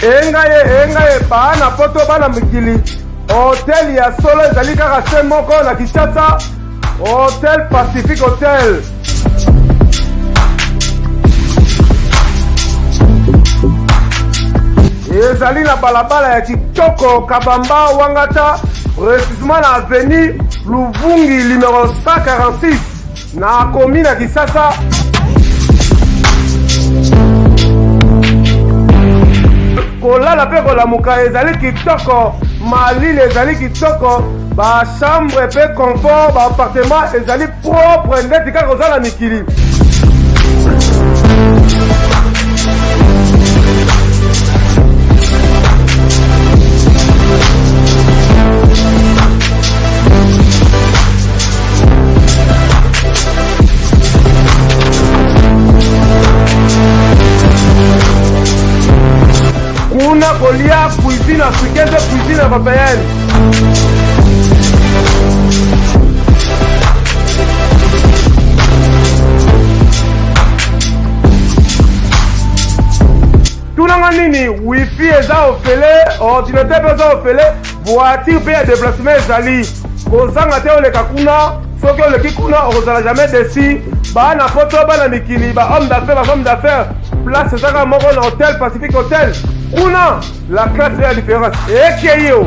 engaye engaye baa na poto bana mikili hotel ya solo ezali kaka se moko na kinshasa hotel pacific hotel ezali na balabala ya kitoko kabamba wangata precisement na avenue luvungi numero 146 Nakomi na Kisasa. kolala mpe kolamuka ezali kitoko malili ezali kitoko bachambre mpe confort baappartement ezali propre ndeti kaka oza na mikili kuna kolia cuisine africaine mpe cuisine européenne tunanga nini wifi eza ofele ordinateur mpe eza ofele voiture mpe ya deplacement ezali kozanga te oleka kuna soki oleki kuna okozala jamais desi bana poto bana mikili ba homme d'affaire ba femme d'affaire place ezaka moko na hotel pacifique hotel kuna la classe ya différence ekei o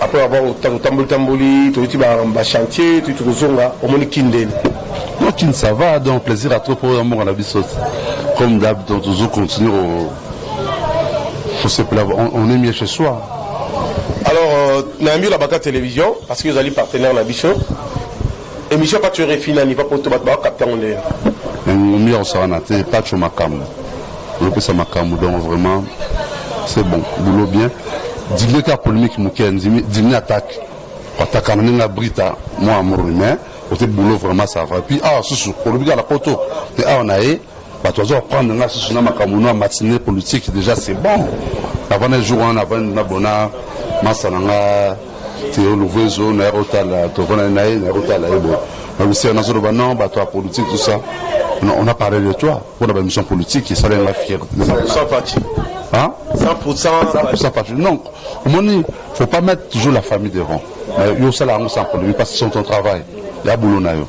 après avoir totamboli tamboli toyuti ba chantier toyuti tokozonga omoni kindeni kin ça va donc plaisir à trop mpo ya mboka na biso comme d'hab donc tozo continuer kosepela on est mieux chez soi alors euh, nayambi olabaka télévision parce que ozali partenaire na biso Emission patsho rfi nani va poto bato ba capte yango nde yo. Mais ngumi ya kosaka na te patsho makambo olopesa makambo donc vraiment c'est bon boulot bien digne ka polémique moke andimi digne attaque atakana ndenge ya brita mwa amorne mais ote boulot vraiment ça va puis awa susu olobi kaka na poto te awa na ye Bato bazo apprendre nga susu na makambo na matinee politique déjà c'est bon. Navanda jour wana navandi na bona masa na nga Theo Luvezo na yako tala tovanda na ye na yako tala ye boye. Na bisi na zolo ba non bato ya politique tout ça. On a, on a parlé de toi pour la mission politique et ça la fierté. Sans parti. Hein? 100%. 100% parti. Non, il faut pas mettre toujours la famille devant. Mais yo ça la sans problème parce que c'est ton travail. Il y a boulot na yo.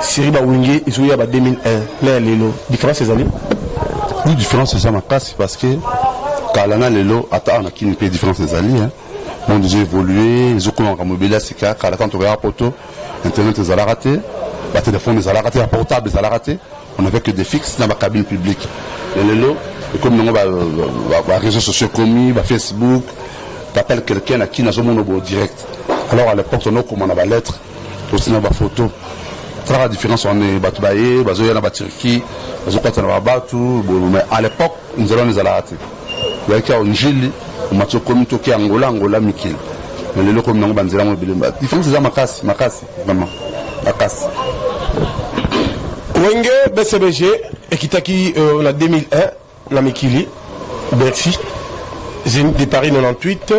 Siri ba wenge ezo ya ba 2001 na ya lelo difference ezali oui différence eza makasi parce que kala na lelo ata awa na kini mpe différence ezali hein. monde ezo évolue ezokoma makambo ebele ya sika kala ntango tokaya poto internet ezalaka te batelefone ezalaka te ya portable ezalaka te on avait que des fixes na bacabine publique ya lelo ekomi nango baréseau sociaux ekomi bafacebook t'appelle quelqu'un na kini azomona bo direct alors à l'époque tonokoma na balettre Tosi na ba photo traka difference wana bato baye bazoya na baturki bazokwata na babatu mais à l'époque nzela wana ezalaka te yaki ao njili omati okomi toki angola angola mikili mais lelo okomi nango banzela yango ebele difference eza makasi makasi vraiment makasi wenge bcbg ekitaki euh, na 2001 Na mikili Bercy Zenith de Paris 98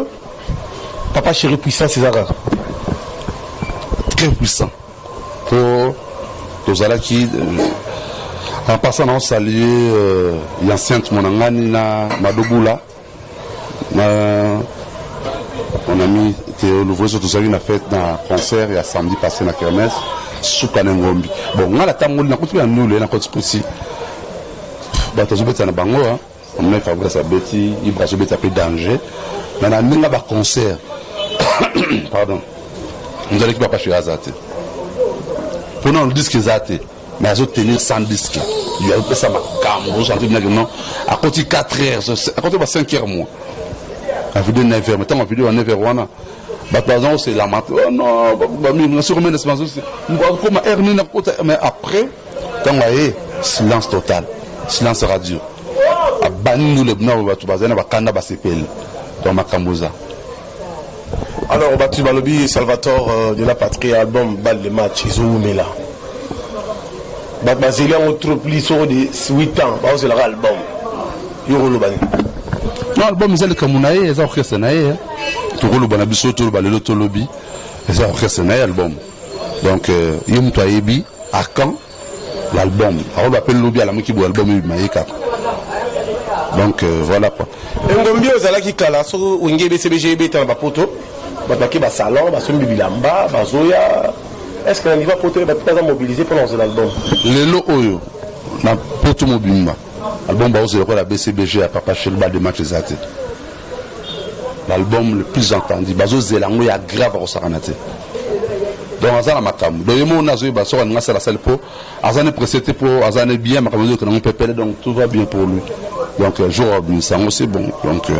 Papa chéri puissance eza kaka très puissant po tozalaki euh, en passant na osalie euh, ya sainte monangani na madobula Na mon ami Theo Louvreso tozalaki na fête na concert ya samedi passé na kermesse suka na ngombi bon ngai natamboli nakoti na ndule nakoti pusi bato azobeta na bango hein. omona fabrice abeti ibra azobeta mpe danger na na ndenge baconcert pardon nzalaki papa shiraza te mpo na diske eza te mais azo tenir sans disque il a pesa makambo ozo sentir bien que non akoti 4 heures akoti ba 5 heures moi la vidéo 9 heures mais tant la vidéo à 9 heures wana bato baza kosela mato oh non bamimasi komia na simanso akoma heure nini akota mais après ntango aye silence total silence radio abandi ndule bino bato bazali na bakanda basepeli donc makambo eza Alors batu balobi Salvatore euh, de la patrie album balle de match ezowumela bato bazeli yango trop plus soko de 8 ans baozelaka album yo koloba nini no album eza likambo na ye eza orchestre na ye tokoloba na biso toloba lelo tolobi eza orchestre na ye album donc euh, ye moto ayebi à quand l'album akoba pe lobi alamuki bo album ebima ye kaka donc euh, voilà quoi engombi ozalaki kala soki wenge ebcbg ebeta na bapoto bato bake basalon basombi bilamba bazoya est ce que na niveau ya poto bato baza mobilise mpona kozela album lelo oyo na poto mobimba album baozela lokola bcbg ya papa shelba de match eza te l'album le plus entendu bazo zela yango ya grave akosakana te donc aza na makambo donc ye moko nde azoyeba soki alingi asala asali mpo aza ne presse te mpo aza ne bien makambo ezoyoka nango pepele donc tout va bien pour lui donc euh, jour abimisa yango c'est bon donc euh,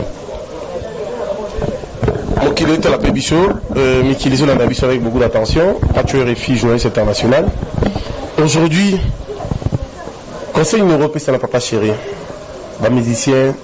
mokili etala mpe biso euh, mikili ezolanda biso avec beaucoup d'attention pacho refi journaliste international aujourd'hui conseil numero opesa na papa chéri bamusicien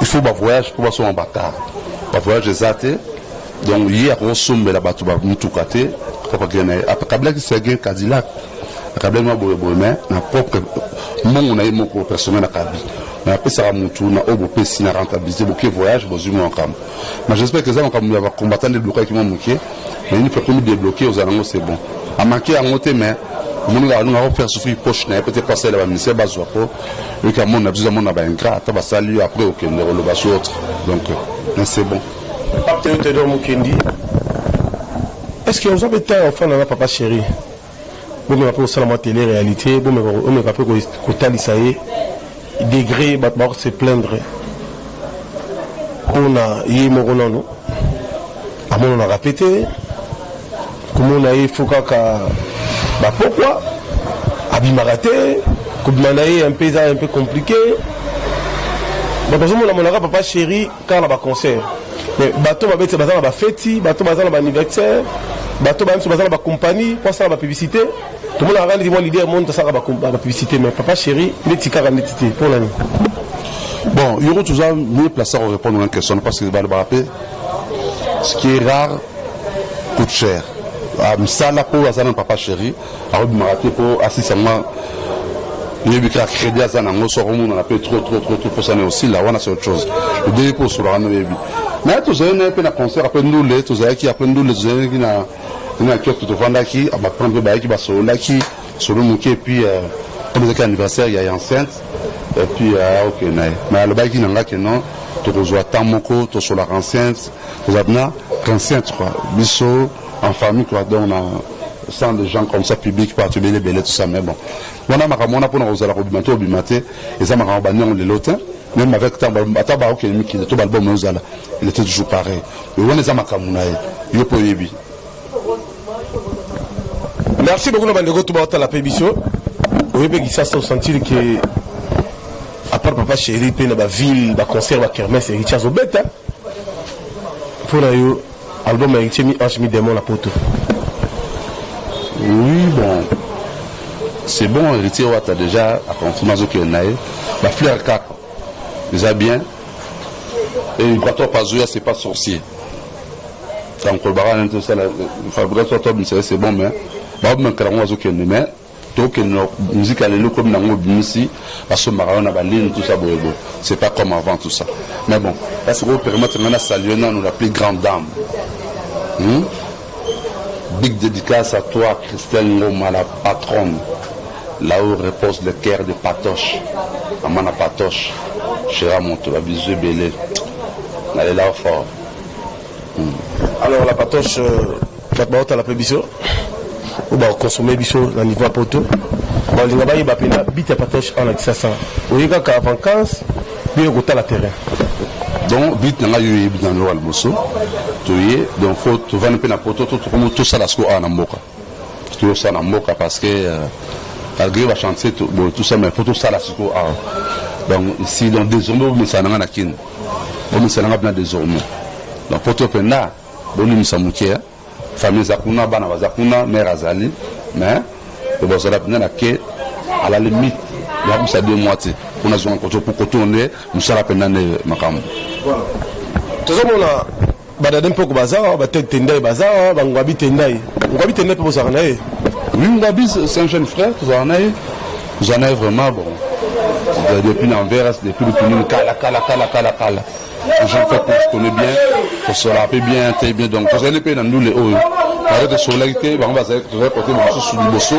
il faut ba voyage mpo basomba bakar ba voyage eza te donc ye akokosombela bato ba mituka te akabilaki sergin cadilac akabilaki mwa boyeboye mai na propre mbongo na ye moko personnel akabi mai apesaka motu na oyo bopesi na rentabilité boke voyage bozwi mwa makambo mai j'espère que eza makambo ya bacombattant nde blokaki mwa moke mai nini pekomi débloquer ozala yango c'est bon amake yango te mai omoni kaka nunga akofaire souffrir poche na ye peut être asalela baministère bazwa po Yo ki amona biso amona ba ingrat ata basali yo après okende koloba sur autre donc mais c'est bon. Papa Théo Théodore Mukendi est-ce que oza mpe ntango ya kofanda na papa chéri bomeka mpe kosala mwa tele réalité bomeka mpe kotalisa ye degré bato bakose plaindre mpo na ye moko nano amonanaka mpe te komona ye fo kaka bapokwa abimaka te kobima na ye mpe eza mpe komplike bato azomona monaka papa chéri kaka na baconcert mais bato babeti baza na bafeti bato baza na baanniversaire bato bayebiso baza na bacompagnie mpo asala bapublicité tomonaka kaka ndeti mwa lider moni tosalaka bapublicité mais papa chéri ndeti kaka ndeti te mpo na nini bon yoko toza mieux place ya korépondre na question parce que balobaka mpe Ce qui est rare coûte cher. Ah, misala mpo aza na papa chéri akobimaka te mpo asisa mwa yebi kaka crédit aza nango so akomonana mpe trop trop trop trop posana osila wana c'est autre chose odeyi mpo osolaka na oyebi mais tozali na ye mpe na concert apres ndule tozalaki apres ndule tozalaki na na kioto tofandaki baprend mpe bayaki basololaki solo muke et puis euh, comme ezalaki anniversaire ya enceinte et puis euh, ok na ye mais alobaki na nga ke non tokozwa temps moko tosolaka enceinte tozala na enceinte quoi biso en famille quoi donc na sans des gens comme ça public partout ebele ebele tout ça mais bon wana makambo wana mpona kozala kobima to obima te eza makambo bandi yango lelo te même avec ata baokende mikili to balbum ozala il était toujours pareil wana eza makambo na ye yo mpe oyebi Merci beaucoup na bandeko tout baotala pe biso oye pe kisasa osentir ke apart papa chéri pe na baville baconcert bakermes héritier azobeta mpo na yo album ya héritier mi ange mi démon na poto oui bon c'est bon héritier wata déjà aconfirme azokende na ye bafleur kaka eza bien et ibrato apazoya c'est pas sorcier donc kolobaka nani tosala fabrigas to abimisa ye c'est bon mais baomekela yango bazokende mais tokende na muziki ya lelo komi na yango obimisi basombaka yo na balini tusa boyebo c'est pas comme avant tout ça mais bon ya sikoyo permettre ngai na salue nanu la plus grande dame hmm? big dédicace à toi christelle ngoma la patronne là où repose le cœur de patoche amana patoche chera moto babisous ebele nalela fort Alors la patoche, euh, bato baotala mpe biso oyo bakonsome biso na niveau ya poto balinga bayeba mpena bit ya patoche awa na kisasa oye kaka vancance bino kotala terrain donc bit na ngai yo oyebi na loka liboso toye donc fo tovandi mpe na poto to tokomi tosala siko awa na mboka tosala na mboka parce que euh, malgré bachantier boye tosala mais fo tosala siko awa donc si donc désormais omesana na ngai na kini Bomisela nga bina desormais. Donc poto penda bolimisa muke. Famille za kuna bana baza kuna mère azali mais bozala bina na ke à la limite ya kusa deux mois te kuna zonga koto koto nde musala penda nde makambo. Voilà. Tozomona Badade mpoko baza awa, batete tendai baza awa, bangwabi tendai. Ngwabi tendai mpe bozalaka na ye? Oui, Ngwabi c'est un jeune frère, tozalaka na ye. Tozalaka na ye vraiment bon. Depuis na Anvers, depuis Lutunini, kala kala kala kala kala. Un jeune frère que je connais bien, tosolaka mpe bien, très bien. Donc tozali mpe na ndule oyo. Bato tosolaki te, bango bazali tozali kote mosusu liboso,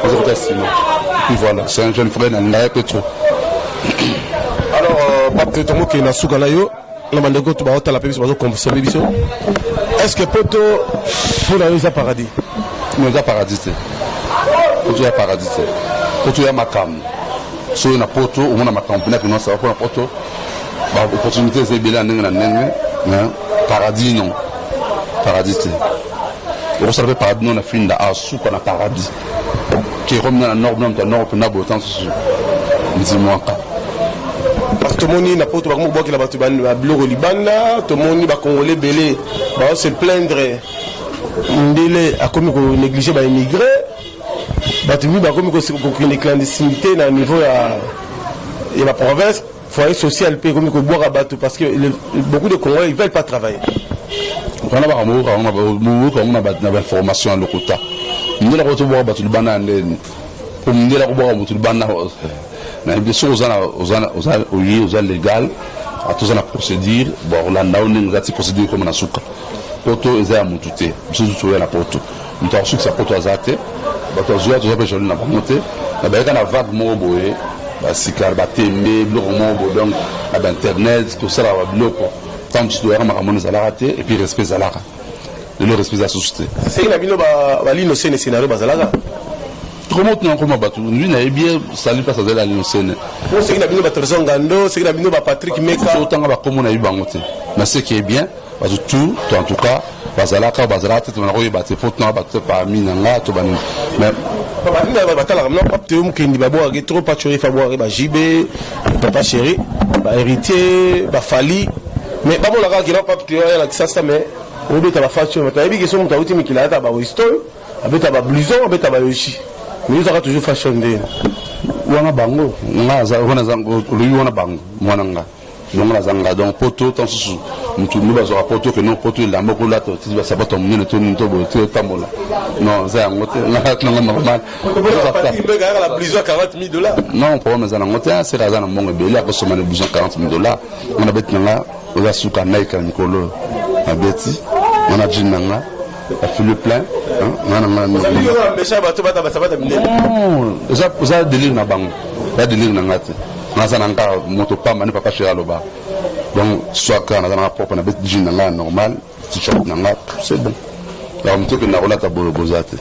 bazali kote nsima. Et puis voilà, c'est un jeune frère na ngai mpe trop. Alors, euh, Pape Tetongo, qui est na suka na yo, na bandeko to baotala mpe biso bazokonsome biso est ce que poto mpo na yo eza paradis no eza paradis te poto ya paradis te poto ya makambo soki na poto omona makambo mpena kinonsa mpo na poto baopportunité eza ebele ya ndenge na ndenge paradis non paradis te okosala mpe paradis non na finda asuka na paradis Jérôme na nord na moto ya nord mpena botan susu nzimwaka parce que tomoni na poto bakomi kobwakela bato babiloko libanda tomoni bakongole ebele bao se plaindre ndele akomi konéglige baémigré bato mingi bakomi kokende clandestinité na niveau ya ya baprovince Foyer social pe ekomi kobwaka bato parce que le, beaucoup de Congolais ils veulent pas travailler. Wana ba kamoka wana ba moka wana ba na information ya lokuta. Ndela ko tobwaka bato libana ndeni. Ko ndela ko bwaka bato libana na biso ozana ozana ozana oyi ozana legal atoza na procédure ba olanda ndenge kati procédure comme na suka. Poto eza ya mutu te. Biso toya na poto. Moto akosukisa poto aza te, bato ya zuwa toza mpe jaloux na bango te, na bayaka na vague moko boye basikar batembe biloko moko boye, donc na bainternet tosalaka babiloko ntango mosusu toyaka makambo wana ezalaka te, epuis respect ezalaka lelo respect eza susu te. Seke na bino balino sene scenario bazalaka tokomi otuna nkoma bato ndui nayebi ye sali mpasi azali alino sene seke na bino batrésor ngando seke na bino bapatrick meka otanga bakombo nayebi bango te naseke bien bato tout to en tout cas bazalaka bazalaka te tobana koyeba te mpo tuna bato te parmi na nga to banini mais batalaka mna pap te mokendi babwakaki trop pachori fa bwakaki ba jb papa chéri ba héritier ba fali mais bamonaka kina pap te ya lakisa sa mais obeta ba facho mais toyebi ke so moto awuti mikili ayata ba westol abeta ba blouson abeta ba yoshi mais yozaka toujours fashion nde wana bango nga wana olobi wana bango mwana nga Longola aza nga donc poto ntango mosusu motu nde bazwaka poto ke no poto elamba okolata otiki basapato ya monene to nini to boye te otambola non eza yango te nanga normal non problème eza nango te seka aza na mbongo ebele akosoma na bison 40 mille dollars nga na beti na nga oza suka naika mikolo na beti nga na jine na nga afili plein nga na nga eza delire na bango eza delire na nga te naza na nga moto pamba nde papa shera aloba donc soit kaka naza nanga propre na beti jean na nga normal t-shirt na nga c'est bon yaka moto ekende nakolata boyo boza te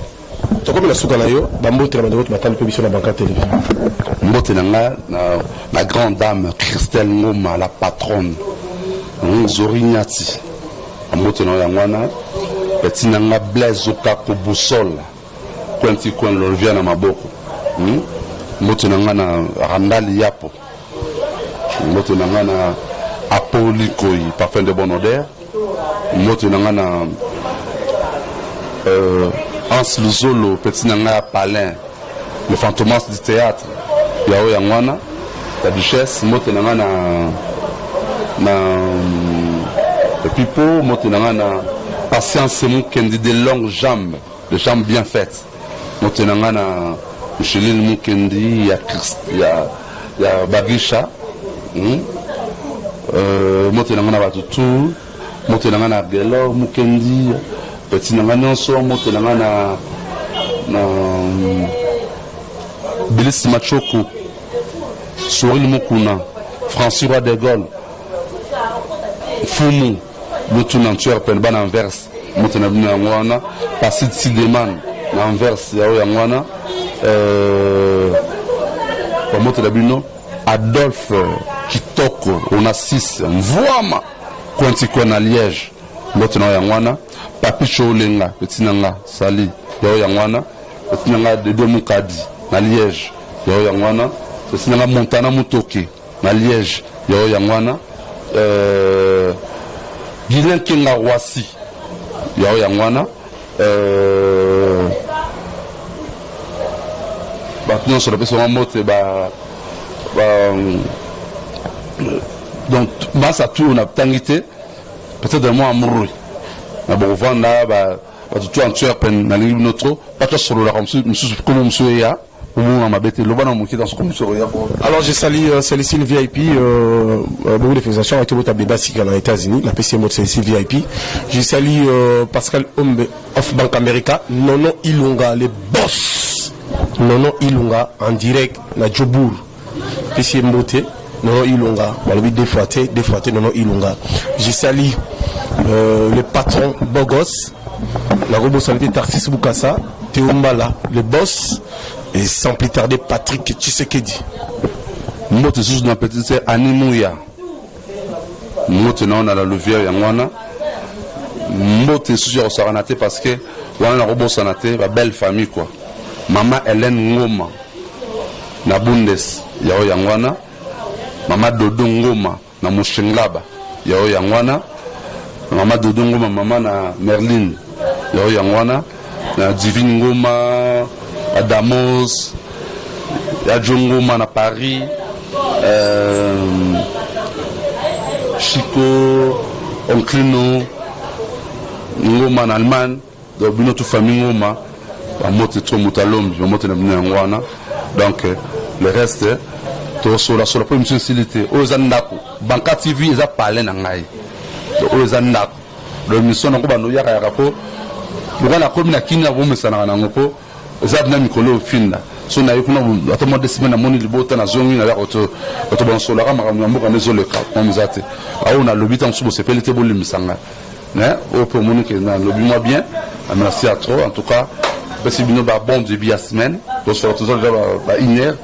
tokomi na suka na yo bambote na bandeko matali mpe biso na banka television mbote na nga na grande dame christelle ngoma la patronne zori nyati Mbote na yango wana petit na nga Blaise Okako Boussole coin ti coin lolvia na maboko hmm? mbote na nga na Randall Yapo mbote na nga na Apoli Koyi parfum de bonne odeur mbote na nga na euh, Hans Luzolo petit na nga ya Palin Le fantomas du theatre ya oyo yangwana la duchesse mbote na nga na na mm, pipo mbote na nga na patience mukendi de longue jambe de jambe bien faite mbote na nga na Micheline Mukendi ya Christ ya ya Bagisha hmm? euh, motela ngo na bato tout Mbote na nga na Guelor Mukendi petit na nga nyonso mbote na nga na na mm, Bilis Machoko Soril Mukuna Francis Roi de Gaulle Fumu Lutu na Antwerpen bana Anvers mbote na bino yango wana Pasid Sideman na Anvers yao yango wana euh, bambote na bino Adolphe Kitoko Onassis Mvuama Kwenti kwe na Liège mbote na yo yango wana Papi Choulenga petit na nga Sali ya yo yango wana petit na nga Dede Mukadi na Liège ya yo yango wana petit na nga Montana Mutoke na Liège ya yo yango wana euh, Guylain Kenga Roissy ya yo yango wana Bato nyonso napesi bango mbote ba donc masa tour natangi te peut-être mwa amrui na bokovanda bato to antwerpen nalingi bino trop bato asololaka mosusu nkomo mosusu eya Omonga mabe te, loba na moke dans comme soro ya ko. Alors je salue euh, Célicile VIP euh, euh, beaucoup de félicitations à Tobota Beba Sika na États-Unis, la PCM de Célicile VIP. Je salue euh, Pascal Ombe of Bank America, Nono Ilunga le boss. Nono Ilunga en direct na Djobourg. pesi ye mbote nono ilunga balobi deux fois te deux fois te nono ilunga je sali euh, le patron bogos nakobosana te tarsis bukasa teombala le boss et sans plus tarder patrick tshisekedi mbote susu na petite sœur ani muya mbote na yo na la louvière yango wana mbote esusu ya kosakana te parce que wana nakobosana te ba belle famille quoi mama Hélène Ngoma na Bundes yao yango wana mama Dodo Ngoma na Mushenglaba yao yango wana mama Dodo Ngoma mama na Merlin yao yango wana na Divine Ngoma, Adamos, ya John Ngoma na Paris, euh, Chico, Onclino, Ngoma na Allemagne, donc bino tout famille Ngoma, bamote to moto alombi, bamote na bino yango wana. Donc euh, le reste tosola sola mpo emission esili te. Oyo eza ndako, Banka TV eza palais na ngai. Donc oyo eza ndako. Lo emission nako bando yaka yaka po lokola nakomi na kini abomesanaka nango po eza bina mikolo ofinda so naye kuna ata mwa deux semaine namoni libota nazongi naza kotobansolaka makambo ya mboka nde ezoleka mama eza te aoyo nalobi ntango mosusu bosepeli te bolimbisa ngai mais oyo mpe omoni ke nalobi mwa bien merci à trop en tout cas apesi bino ba bon début ya semaine tosola toza deja ba une heure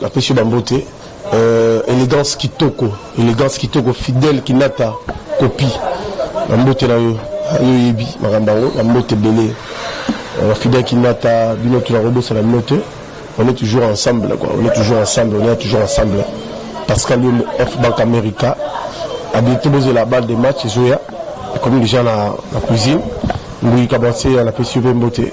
Napesi yo ba mbote. Euh, elegance kitoko, elegance kitoko, fidèle kinata copie. Ba mbote na yo, yo yebi makambo yango, ba mbote belé. Euh, fidèle kinata bino tu na robosa na bino te. On est toujours ensemble quoi, on est toujours ensemble, on est toujours ensemble. Pascal Yombo, F Bank America, a bientôt besoin la balle de match, Zoya, comme déjà la, la cuisine. Louis Kabanse, la PCV Mbote.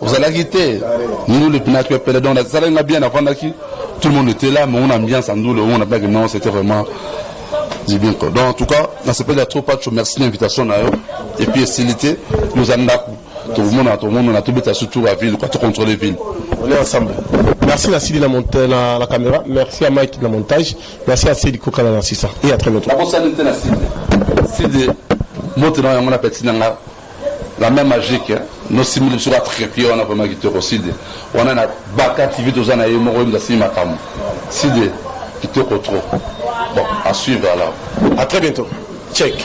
ozalaki te ndule mpena tu epele donc nasalaki nga bien nafandaki tout le monde était là mais on ambiance ya ndule omona mpaki non c'était vraiment du bien quoi donc en tout cas nasepeli ya trop pacho merci na invitation na yo et puis esili te yo oza ndako tokomona tomonana tobeta surtout ya ville quoi tocontrole ville on est ensemble merci na sili na, monta, na, na caméra merci à mike na montage merci à sili kokala na sisa et à très bientôt nakosali te na side side moto na yango na peti na nga La main magique nosimbi biso ka trepied wana vraiment kitoko side wana na baka tv toza na ye moko yemza asimi makambo side kitoko trop bon à suivre alors à très bientôt check